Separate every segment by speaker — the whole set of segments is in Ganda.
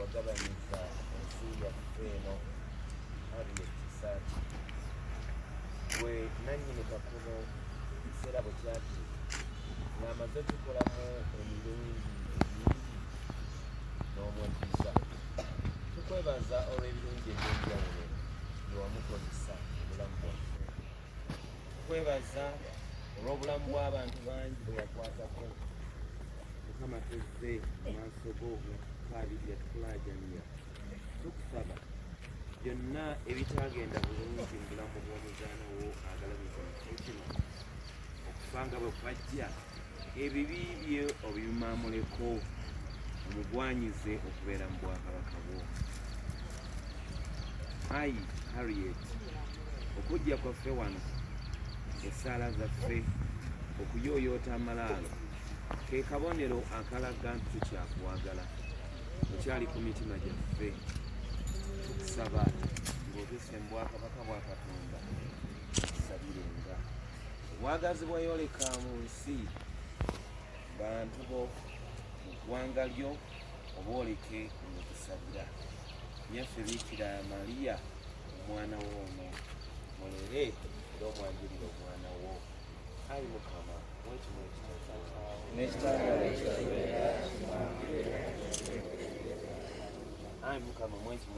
Speaker 1: wagabanyizza ensi yaffe eno Harriet Kisaaki gwe nannyini kakubo ekiseera bwe kyati ng'amaze okukolamu emirundi emingi n'omweddiza tukwebaza olw'ebirungi eby'enjawulo bye wamukozesa obulamu bwaffe kwebaza olw'obulamu bw'abantu bangi bwe yakwatako mukama tuzze amaaso go nakukaabirira tukulaajanira tukusaba byonna ebitagenda bulungi mu bulamu bw'omuzaana wo agalabika mu kifo kino okufa nga bwe kwajja ebibi bye obimamuleko omugwanyize okubeera mu bwakabaka bwo ayi harriet okujja kwaffe wano esaala zaffe okuyooyoota amalaalo ke kabonero akalaga nti tukyakwagala okyali ku mitima gyaffe tukusaba ng'otuse mu bwakabaka bwa katonda tusabirenga obwagazi bweyoleka mu nsi bantu bo mu ggwanga lyo obwoleke mu kusabira nyaffe biikira mariya omwana wo ono mulere era omwanjulire omwana wo ayi mukama wekimu ekitaawo ayi mukama mwekimu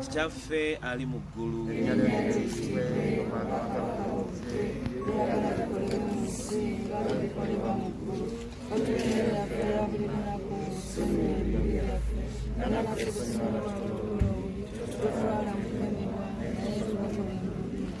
Speaker 1: kitaffe ali mu ggulu Thank you.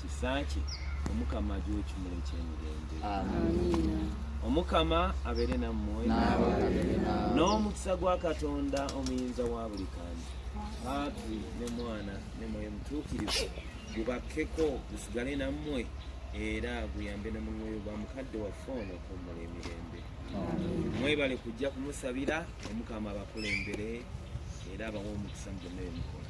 Speaker 1: kisaakye omukama agiwa ekimula ekyemirembe omukama abeere nammwe n'omukisa gwa katonda omuyinza wa buli kantu paatri ne mwana ne mwoyo mutuukirivu gubakkeko gusigale nammwe era guyambe ne mu mwoyo gwa mukadde waffe ono okummula emirembe mwebale kujja kumusabira omukama abakulembere era abawa omukisa mu byonna byemukola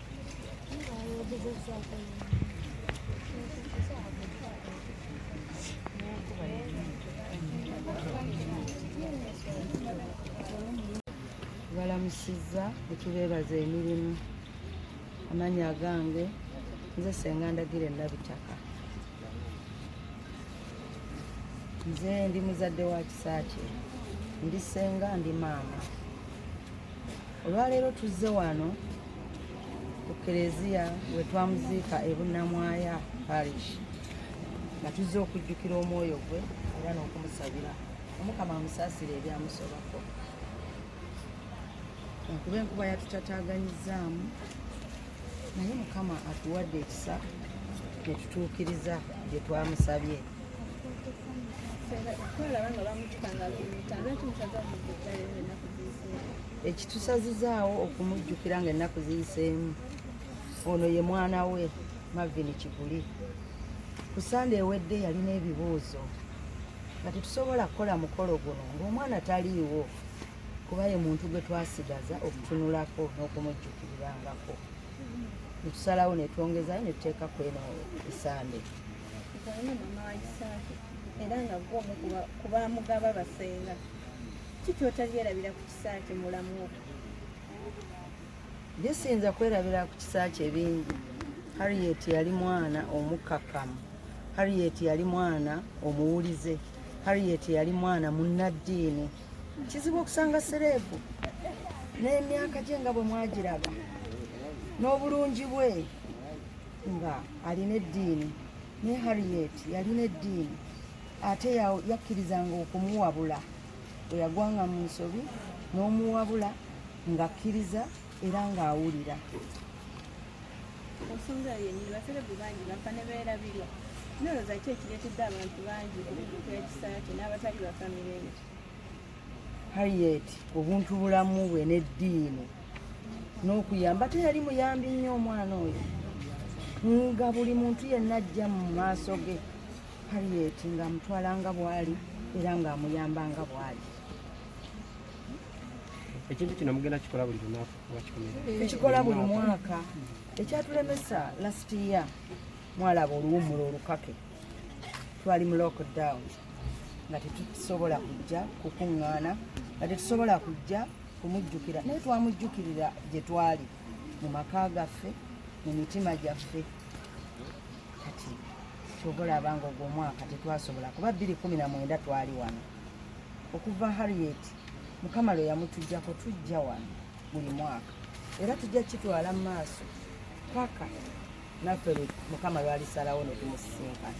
Speaker 2: balamusizza ekibeebaza emirimu amanya agange nze senga ndagira enabitaka nze ndi muzadde wa kisaakye ndi senga ndi maama Olwaleero tuzze wano ku Kereziya we twamuziika e Bunnamwaya Parish nga tuzze okujjukira omwoyo gwe era n'okumusabira omukama amusaasire ebyamusobako kuba enkuba yatutataaganyizaamu naye mukama atuwadde ekisa ne tutuukiriza bye twamusabye ekitusazizaawo okumujjukira nga ennaku ziyiseemu ono ye mwana we mavin kiguli ku sande ewedde yalina ebibuuzo nga tetusobola kukola mukolo guno ngaomwana taliiwo kuba ye muntu gwe twasigaza okutunulako n'okumujjukirirangako netusalawo netwongezayo netuteeka kweno esande Gwalina mama wa
Speaker 3: Isaaki era nga gwo omu ku baamugaba basenga. Ki ky'otalyerabira ku kisa kye mulamu wo?
Speaker 2: Bye siyinza kwerabira ku kisa kye bingi. Harriet yali mwana omukkakkamu. Harriet yali mwana omuwulize. Harriet yali mwana munnaddiini. Kizibu okusanga sereebu n'emyaka gye nga bwe mwagiraba n'obulungi bwe. nga alina eddiini ne harriet yalina eddiini ate yakkirizanga okumuwabula bwe yagwanga mu nsobi n'omuwabula ng'akkiriza era ng'awulira
Speaker 3: ensonga yennyini baserebu bangi bafa ne beerabirwa nolwoza ki ekireetedde abantu bangi okubuuka ekisa kye n'abatali bafamireyo
Speaker 2: Harriet obuntu bulamu bwe n'eddiini n'okuyamba te yali muyambi nnyo omwana oyo nga buli muntu yenna ajja mu maaso ge Harriet ng'amutwala nga bw'ali era ng'amuyamba nga bw'ali
Speaker 4: ekintu kino mugenda kikola buli lunaku tukikola
Speaker 2: buli mwaka ekyatulemesa last year mwalaba oluwumula olukake twali mu lockdown nga tetusobola kujja kukuŋŋaana nga tetusobola kujja kumujjukira naye twamujjukirira gye twali mu maka gaffe mu mitima gyaffe kati kyova olaba nga ogwo omwaka tetwasobola kuba bbiri kumi na mwenda twali wano okuva harriet mukama lwe yamutujjako tujja wano buli mwaka era tujja kitwala mu maaso paka naffe mukama lwalisalawo netumusisinkana